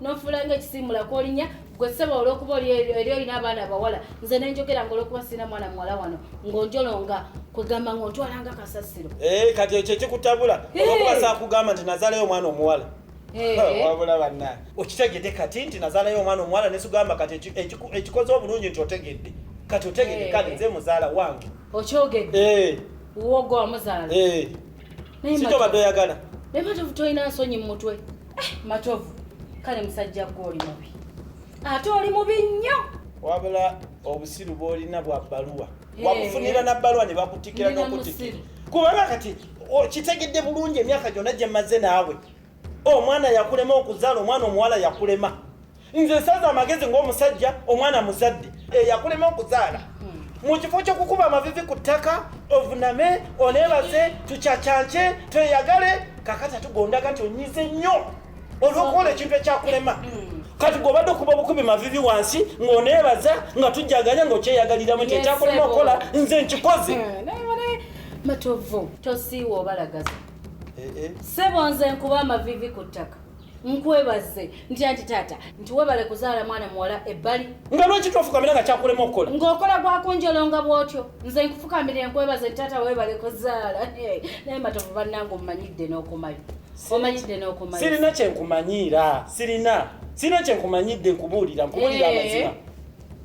nonfulanga ekisimula kolinya gwe sebo olwokuba eri olina abaana abawala nze nenjogera nga olwokuba sirina mwana muwala wano ng'onjolonga kwegamba ng'ontwalanga kasasiro eh, kati ekyo ekikutabula olwokuba sakugamba nti nazalayo omwana omuwala Eh. Oh, wabula banna okitegedde kati nti nazaalayo omwana omuwala nesugamba kati ekikoze obulungi nti otegedde kati otegedde eh. kale nze muzaala wange okyogedde eh. wogo wamuzaala sitobadde oyagala naye matovu tolina nsonyi mu mutwe matovu kale musajja gwe oli mubi ate oli mubi nnyo wabula obusiru bwolina bwa bbaluwa wabufunira na bbaluwa ne bakutikira n'okutikira kubanga kati okitegedde bulungi emyaka gyonna gye mmaze naawe omwana yakulema okuzaala omwana omuwala yakulema nze nsaza amagezi ng'omusajja omwana muzadde eyakulema okuzaala mu kifo ky'okukuba amavivi ku ttaka ovuname oneebaze tucacance tweyagale kakati atugondaga nti onyize nnyo olw'okukola ekintu ekyakulema kati gobadde okuba obukubi mavivi wansi ng'oneebaza nga tujjaganya ng'okyeyagaliramu nti ekyakulema okukola nze nkikoze hmm, matovu tosiiwa obalagaza eh, eh. sebo nze nkuba amavivi ku ttaka nkwebaze ntya nti taata nti webale kuzaala mwana muwala ebbali nga lwaki tofukamira nga kyakulema okukola ng'okola gwakunjolonga bwotyo nze nkufukamire nkwebaze nti taata webale kuzaala naye matovu bannanga omumanyidde n'okumayo omanyidde n'okumayo sirina kyenkumanyiira sirina sirina kyenkumanyidde nkubuulira nkubuulira eh. amazima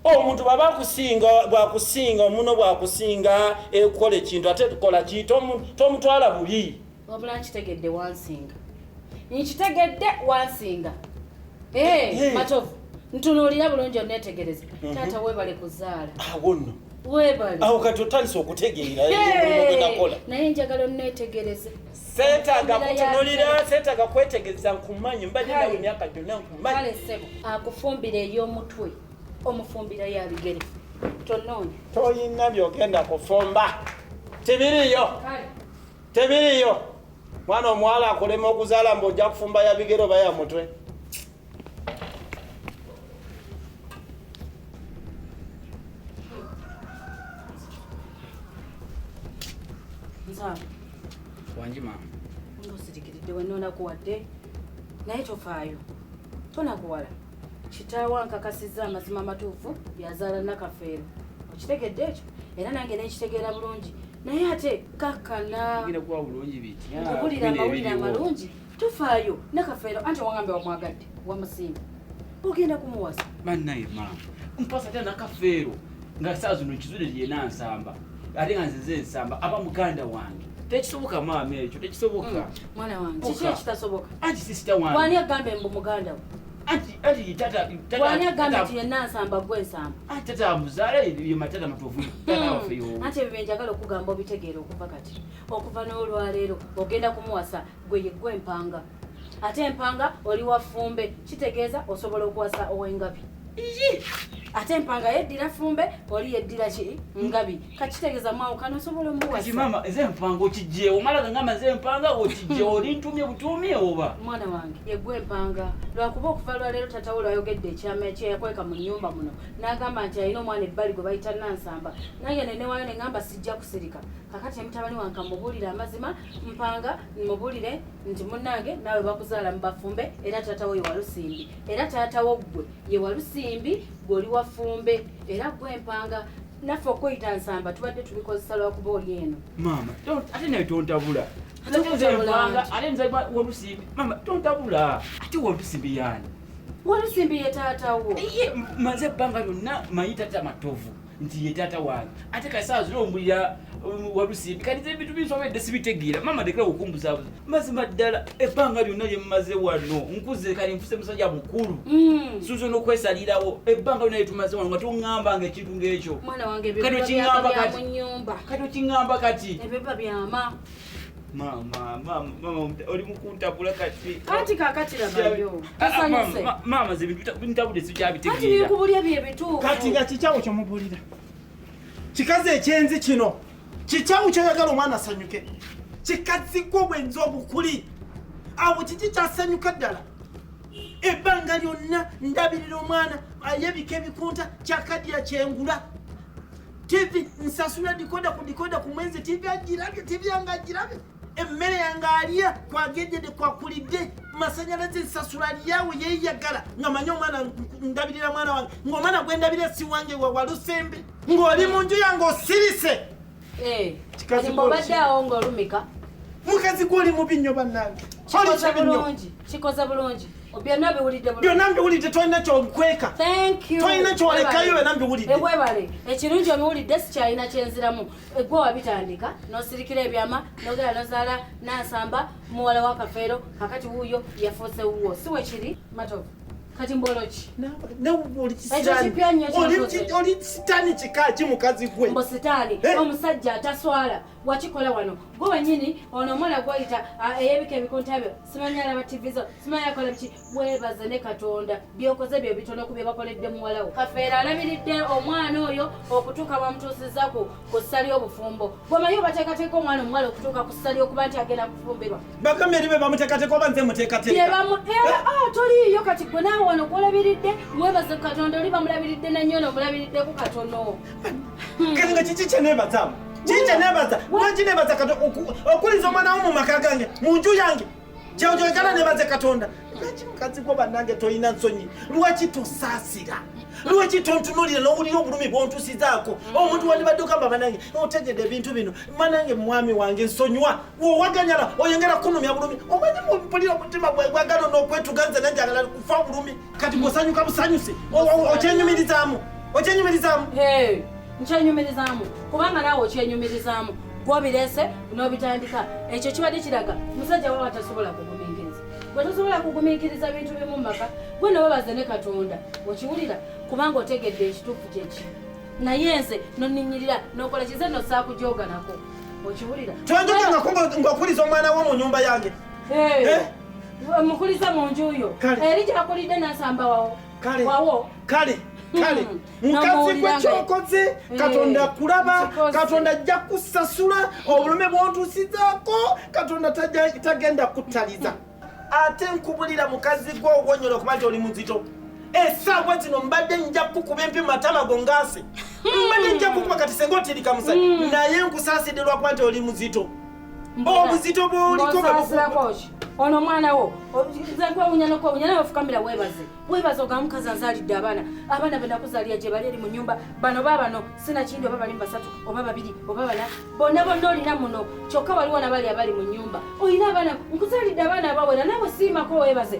omuntu bwaba akusinga bwakusinga omuno bwakusinga ekukola ekintu ate tukola ki tomutwala bubi wabula nkitegedde wansinga nkitegedde wansinga eh, matovu ntunuulira bulungi onetegereze mhm. taata webale kuzaala awo nno webale awo kati otandise okutegeera naye njagala onetegereze Setaga kutunulira, setaga kwetegeza nkumanyi, mbadde nawe emyaka gyonna nkumanyi. Kale ssebo, akufumbira ey'omutwe, omufumbira ya bigere. Tonoonya. Toyina byogenda kufumba. Tebiriyo. Tebiriyo. Mwana omuwala akulema okuzaala mbu ojja kufumba ya bigere oba ya mutwe. wangi maama ngosirikiridde wenonaku wadde naye tofaayo tonakuwala kitaawo ankakasizza amazima amatuufu yazaala nakafeero okitegedde ekyo era nange nekitegeera bulungi naye ate kakana bulira amawulire amalungi tofaayo nakafeero anti owangambe wamwagadde wamusimba ogenda kumuwasa banaye maama mpasa tya nakafeero nga saa zino kizule lyena nsamba ate nga nzize nsamba aba muganda wange tekisoboka maama ekyo tekisoboka mm, mwana wange kiki ekitasoboka anti sisita wange wani agambe mbu muganda we wani agambe nti yenna nsamba gwe nsamba anti tata amuzaala yematata matovu hmm. anti ebyo byenjagala okugamba obitegeera okuva kati okuva n'olwaleero ogenda kumuwasa gwe yeggwa empanga ate empanga oli wafumbe kitegeeza osobola okuwasa owengabi ate empanga yeddira fumbe oli yeddira ki ngabi kakitegeeza mwawukana osobola omuwasmama eze empanga okijjeewo mala gangamba ze empanga okijjeewo olintumye butuumi oba mwana wange yegwa empanga lwakuba okuva lwaleero tatawo lwayogedde ekyama ekyeyakweka mu nyumba muno n'agamba nti alina omwana ebbali gwe bayita nansamba naye nenewayo ne ngamba sijja kusirika kakati emutabani wange amubuulira amazima mpanga mubulire nti munange naawe bakuzaala mu bafumbe era taata wo yewalusimbi era taata wo ggwe yewalusimbi gwoli wafumbe era ggwe mpanga naffe okuyita nsamba tubadde tubikozesa lwakuba oli eno maama ate naye tontabula ate nzaiba wolusimbi maama tontabula ate wolusimbi yaani wolusimbi ye taata wo maze ebbanga lyonna mayita tamatovu nti ye taata wange ate kasaawa zina ombulira um, walusimbi kati ebintu binsobedde sibitegeera maama ndekera okumbuzaabuza mazima ddala ebbanga lyonna lye mumaze wano nkuze kati nfuse musajja mukulu mm. suuza n'okwesalirawo ebbanga lyonna lyetumaze wano nga toŋŋamba nga ekintu ng'ekyo kati okiŋŋamba kati okiŋŋamba kati Mama, mama, mama, oli mukuntabula kati. Kati kakati labayo. Kasanyuse. Ah, ah, mama zibi ntabule sija bitegera. Kati bikubulya bye bitu. Kati nga kichawo kyo mubulira. Kikaze ekyenzi kino. Kichawo kyo yagala omwana asanyuke. Kikazi ko bwenzo obukuli. Awo kiki kyasanyuka ddala. Ebbanga lyonna ndabirira omwana ayebika ebikunta kyakadya kyengula. TV nsasula dikoda ku dikoda ku mwenzi TV ajirabye TV yange ajirabye emmere yange alya kwagendede kwakulidde masanyalaze nsasula lyawe yeyagala nga manye omwana ndabirira mwana wange ngaomwana gwendabirira si wange wawalusembe ng'oli mu nju yange osirise eh, obadde awo ng'olumika mukazi gwoli mubi nnyo bannange kikoze bulungi byonna biwulidde byonna mbiwulidde tolina kyokweka tolina kyolekayo byonna mbiwulidde ewebale eh, ekirungi obiwulidde sikyalina kyenziramu egwe eh, wabitandika nosirikira ebyama nogera nozaala nansamba muwala wa kafeero kakati wuuyo yafuuse wuwo si wekiri matovu kati mboloki oli sitaani kika ki mukazi gwe mbo sitaani eh? omusajja ataswala wakikola wano gwe wenyini ono omwana gwayita ah, eyebika ebikontabyo simanyi alaba ttivi zo simanyi akola biki weebaze ne katonda byokoze bye bitono ku bye bakoledde muwalawo kafeera alabiridde omwana oyo okutuuka bamutuusizaku ku ssa ly'obufumbo bwemanyi obateekateeka omwana omuwala okutuuka ku ssa ly'okuba nti agenda kufumbirwa bagambye eri be bamuteekateeka oba nze muteekateeka eh, ah, toliiyo kati gwe naawe wano gwolabiridde weebaze ku katonda oli bamulabiridde nannyo nomulabiriddeko katono kati nga kiki kyenebazamu kiki kyenebaza lwaki nebaza katonda okuliza omwana wo mu maka gange mu nju yange kyewjogera nebaze katonda lwaki mukazi gwo bannange tolina nsonyi lwaki tosaasira lwaki tontunulira n'owulira obulumi bwontusizaako mm. omuntu wandibadde okamba banange otegede ebintu bino manange mwami wange nsonyiwa wowaganyala oyongera kunumya bulumi omanyi mupulira omutima gwagala n'okwetuganze nanjagala kufa bulumi kati ngosanyuka busanyuse okyenyumirizaamu okyenyumirizaamu nkyenyumirizaamu kubanga naawe okyenyumirizaamu gwobirese n'obitandika ekyo kibadde kiraga musajja wawa tasobola kugumiikiriza gwe tosobola kugumiikiriza bintu bimu mu maka gwe nawebaze ne katonda okiwulira kubanga otegedde ekituufu kyeki naye nze noninyirira nokola kize nosaakujoganako okiwulira tonjoga ngakuliza omwana wo mu nyumba yange eh? mukulize mu nju yo eri gyakulidde nasamba wawo kale wawo kale kale hmm. mukazi gwe kyokoze eh. katonda kulaba katonda ajja kusasula obulume bwontusizaako katonda tagenda kutaliza hmm. ate nkubulira mukazi gwe ogwonyola okuba nti oli muzito esaawa zino mbadde nja kukuba empi matama go ngaase hmm. mbadde nja kukuba kati senga otirika musajja naye nkusaasidde lwakuba nti oli muzito obuzito bwolikobasirakoki ono omwana wo zakwewunya nokwewunya naye ofukamira webaze webaze oga mukazi anzalidde abaana abaana benakuzalira gye bali eri mu nyumba bano babano sinakindi oba bali mu basatu oba babiri oba bana bonna bonna olina muno kyokka waliwo nabali abali mu nyumba olina abaana nkuzalidde abaana abawera nawe siimako webaze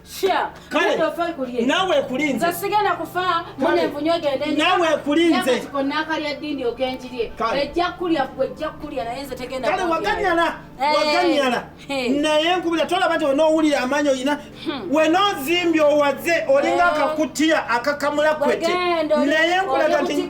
nawe ekulinze nawe ekulinze kale waganyala eh. waganyala eh. naye nkubira tolaba nti wenowulira amaanyi olina hmm. wenozimbye owaze olinga eh. akakutiya akakamula kwete naye nkulaga nti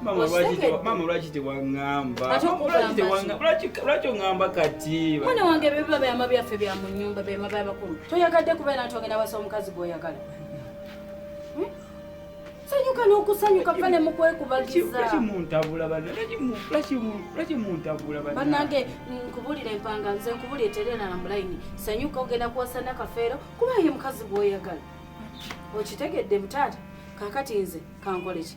Mama lwaki te mama lwaki te wangamba. Lwaki te wangamba. Lwaki lwaki ngamba kati. Mwana wange bebe bya mabi afe bya munyumba bya mabi abakulu. Toyagadde kubera ntonge na wasa omukazi gwoyagala. Hmm? Sanyuka n'okusanyuka fane mu kwekubagiza. Lwaki muntabula bana? Lwaki mu lwaki mu lwaki muntabula bana? Banange nkubulira empanga nze nkubulira terena na mulaini. Sanyuka ogenda kuwasana kafeero kuba ye mukazi gwoyagala. Okitegedde mutaata? Kakati nze kankoleki?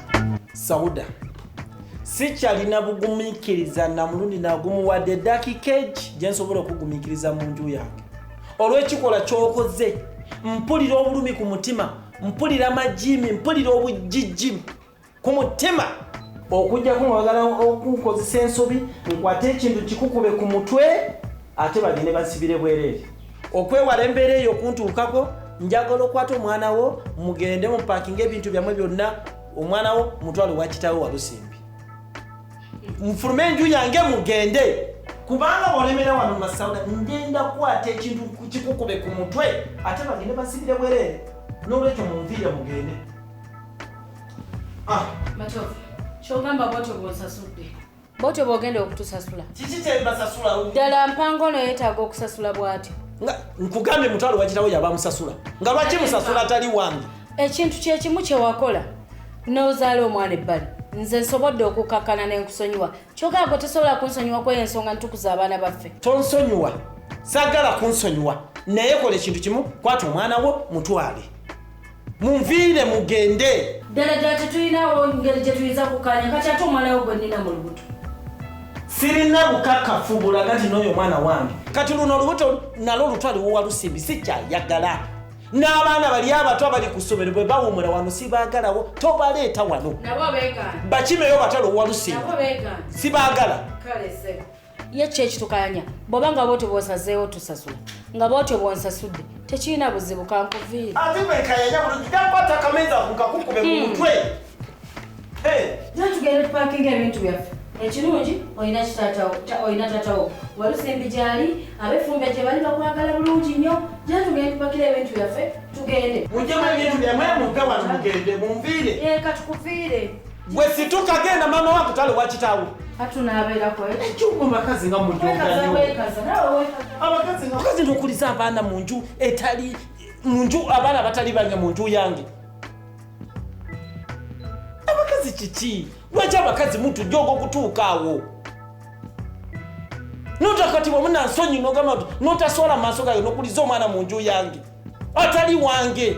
sauda sikyalina bugumikiriza namulundi nagumuwadde edakika egi gyensobola okugumikiriza mu nju yange olwekikola kyokoze mpulira obulumi ku mutima mpulira amajimi mpulira obujijjimu ku mutima okujjako nga bagala okunkozesa ensobi nkwate ekintu kikukube ku mutwe ate bagende basibire bwereere okwewala embeera eyo okuntuukako njagala okwata omwana wo mugende mupakinga ebintu byammwe byonna omwana wo mutwalo wakitawo walusimbi mufulume enju yange mugende kubanga bolemera wano masauda ngenda kukwata ekintu kikukube ku mutwe ate bagende basibire bwerere nolwekyo munviire mugende ah. kyogamba bwatyo bwonsasudde bwotyo bwogenda okutusasula kiki kyembasasula ddala mpango ono yetaaga okusasula bwatyo nkugambye mutwalo wakirawo yabamusasula nga lwaki musasula atali wange ekintu kyekimu kyewakola nozaala omwana ebbali nze nsobodde okukakkana nenkusonyiwa kyogaa gwe tosobola kunsonyiwa kweyo ensonga nitukuza abaana baffe tonsonyiwa sagala kunsonyiwa naye kola ekintu kimu kwata omwana wo mutwale munviire mugende ddala ddala tetulinawo ngeri gye tuyinza kukkaanya kati ate omwana we gwe nnina mu lubuto sirina bukakafu bulaga nti n'oyo omwana wange kati luno olubuto nalwo lutwaliwowa lusimbi sikyayagala n'abaana bali abato abali ku ssomero bwe bawumula wano sibaagalawo tobaleeta wano bakimeyo batalowowa lusimbi sibaagala ye kyo ekitukanya bwoba nga bwotyo bwosazeewo tusasula nga bwotyo bwonsasudde tekirina buzibu kankuviire ate bwekayanya bulungi gakwata kamenza kukakukube mu hmm. mutwe tugenda tupakinga ebintu byaffe ekirungi olina kitatawo olina tatawo walusimbi gyali abefumbe gye bali bakwagala bulungi nnyo gye tugenda tupakira ebintu byaffe tugende mujemu ebintu byamwe mudde wano mugende munviire ee eh, katukuviire Gwe situka genda mama wako tale wakitawo. Hatu na abela kwe. Echuko makazi nga mujunga nyo. Wekaza wekaza. Nawe wekaza. Abakazi nga. Wakazi ndo kuliza abana munju etali munju abana batali banya munju yangi. Abakazi chichi. Wacha abakazi mtu jogo kutuka awo. Nota kati wa muna nsonyi no gama nota swala masoka yo no kuliza omana munju yangi. Atali wange.